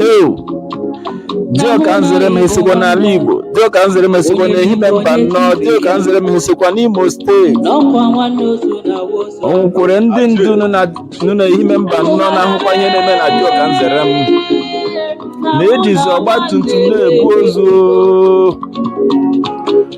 Ew! Dioka Nzerem esokwa n'ala Igbo, Dioka Nzerem esokwa n'Ehime Mbano, Dioka Nzerem esokwa n'Imo steeti. O nwekwara ndị ndu nọ na- nọ n'Ehime Mbano na-ahụkwa ihe na-eme na Dioka Nzerem. Na-ejizi ọgba tum tum na-ebu ozu.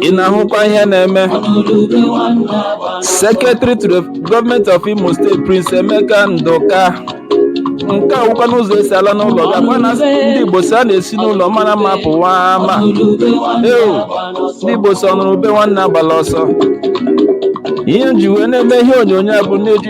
Ị na-ahụkwa ihe na-eme? Secretary to the Government of Imo State Prince Emeka Nduka nke a wụkwanụ ụzọ esi ala n'ụlọ gị ọkwa na ndị Igbo sị a na-esi n'ụlọ mara mma pụwa ama eu ndị Igbo sị ọnụrụ ube nwanne agbala ọsọ ihe m ji wee na-eme ihe onyonyo a bụ na-eji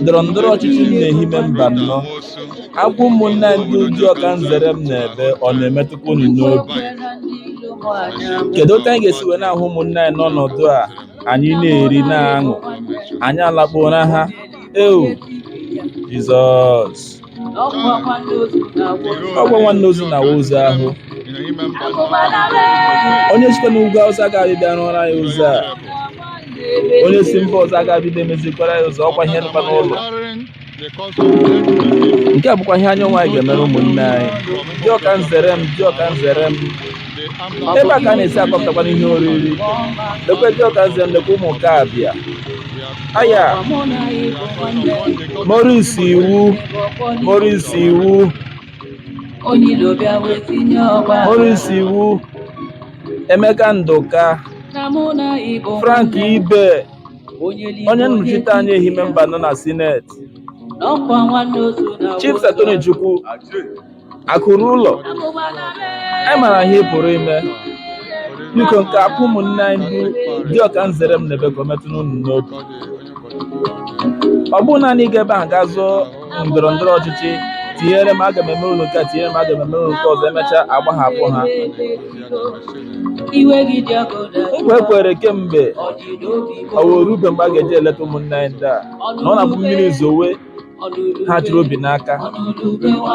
Ndọrọ ndọrọ ọchịchị nọ n'Ehime Mbano. Akwa ụmụnna anyị ndị Dioka Nzerem na-ebe ọ na-emetụkwa unu n'obi. Kedu otu anyị ga-esi wee na-ahụ ụmụnna anyị n'ọnọdụ a anyị na-eri na-aṅụ anyị alakpuo ụra ha? Eu, Jizọs! ọkwa nwanne ozu na-awụ ozu ahụ onye sikwa n'ugwu Awụsa agaghị abịa rụọrọ anyị ụzọ a onye si mba ọzọ agaghị abịa emezikwara anyị ụzọ ọkwa ihe nụkwa n'ụlọ nke a bụkwa ihe anyị nwa anyị ga-emere ụmụnne anyị Dioka Nzerem Dioka Nzerem ebe a ka a na-esi akọpụtakwana ihe oriri lekwe Dioka Nzerem lekwa ụmụ nke abịa aya Maurice Iwu Maurice Iwu Maurice Iwu Emeka Nduka Frank Ibe onye nnọchite anya Ehime Mbano na sineti Chief Sir Tony Chukwu Akụ ruo ụlọ, anyị mara ihe ị pụrụ ime. Biko nke akwa ụmụnne anyị ndị Dioka Nzerem na-ebe ka o metụ unu n'obi. Ọ bụrụ naanị ịga ebe ahụ gaa zọọ ndọrọ ndọrọ ọchịchị tinyere m aga m eme unu nke a tinyere m aga m eme unu nke ọzọ emechaa agbahapụ ha. Nkwa ekwere kemgbe ọ wee rube mgbe a ga-eji eleta ụmụnne anyị ndị a na ọ na-abụ mmiri zowe ha chịrị obi n'aka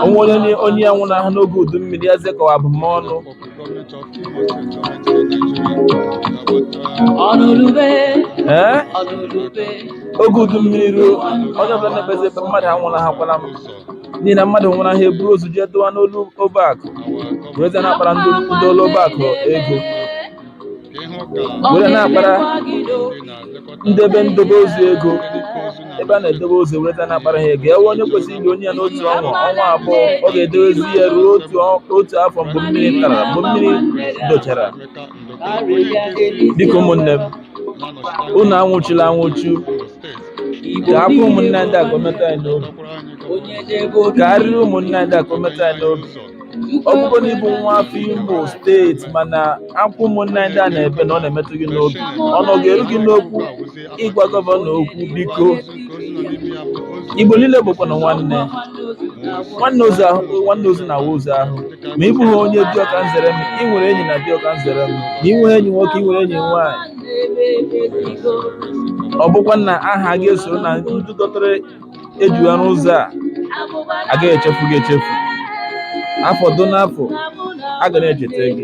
o nwee onye onye ya nwụrụ ahụ n'oge udu mmiri ya zekọwa abụmọnụ ee oge udu mmiri ruo onye ọbụla na-ekpezi ekpere mmadụ anwụlahakwala m n'ihi na mmadụ nwụrụ ahụ eburu ozu jee dowe n'ụlọ ọba akụ werezie na-akpara ndị ndị ụlọ ọba akụ ego were na-akpara ndị ebe ndobe ozu ego ebe a na-edobe ozu were na-akpara ha ego ewe onye kwesịrị ili onye ya n'otu ọnwa ọnwa abụọ ọ ga-edowezi ya ruo otu ọ- otu afọ mgbe mmiri tara mgbe mmiri dochara biko ụmụnne m unu anwụchula anwụchu ka akwa ụmụnne ndị a ka o metụ anyị n'obi ka arịrị ụmụnne ndị a ka o metụ anyị n'obi Ọ bụrụ na ị bụ nwa afọ Imo steeti mana akwa ụmụnne anyị ndị a na-ebe na ọ na-emetụ gị n'obi ọnụ ga-eru gị n'okwu ịgwa gọvanọ okwu biko Igbo niile bụkwana nwanne nwanne ozu na-awa ozu ahụ ma ị bụghị onye Dioka Nzerem ị nwere enyi na Dioka Nzerem ma ị nweghị enyi nwoke ị nwere enyi nwaanyị ọ bụkwa na aha gị esoro na ndị dọtara ejuwa n'ụzọ a a gaghị echefu gị echefu afọ duo n'afọ a ga na-echeta gị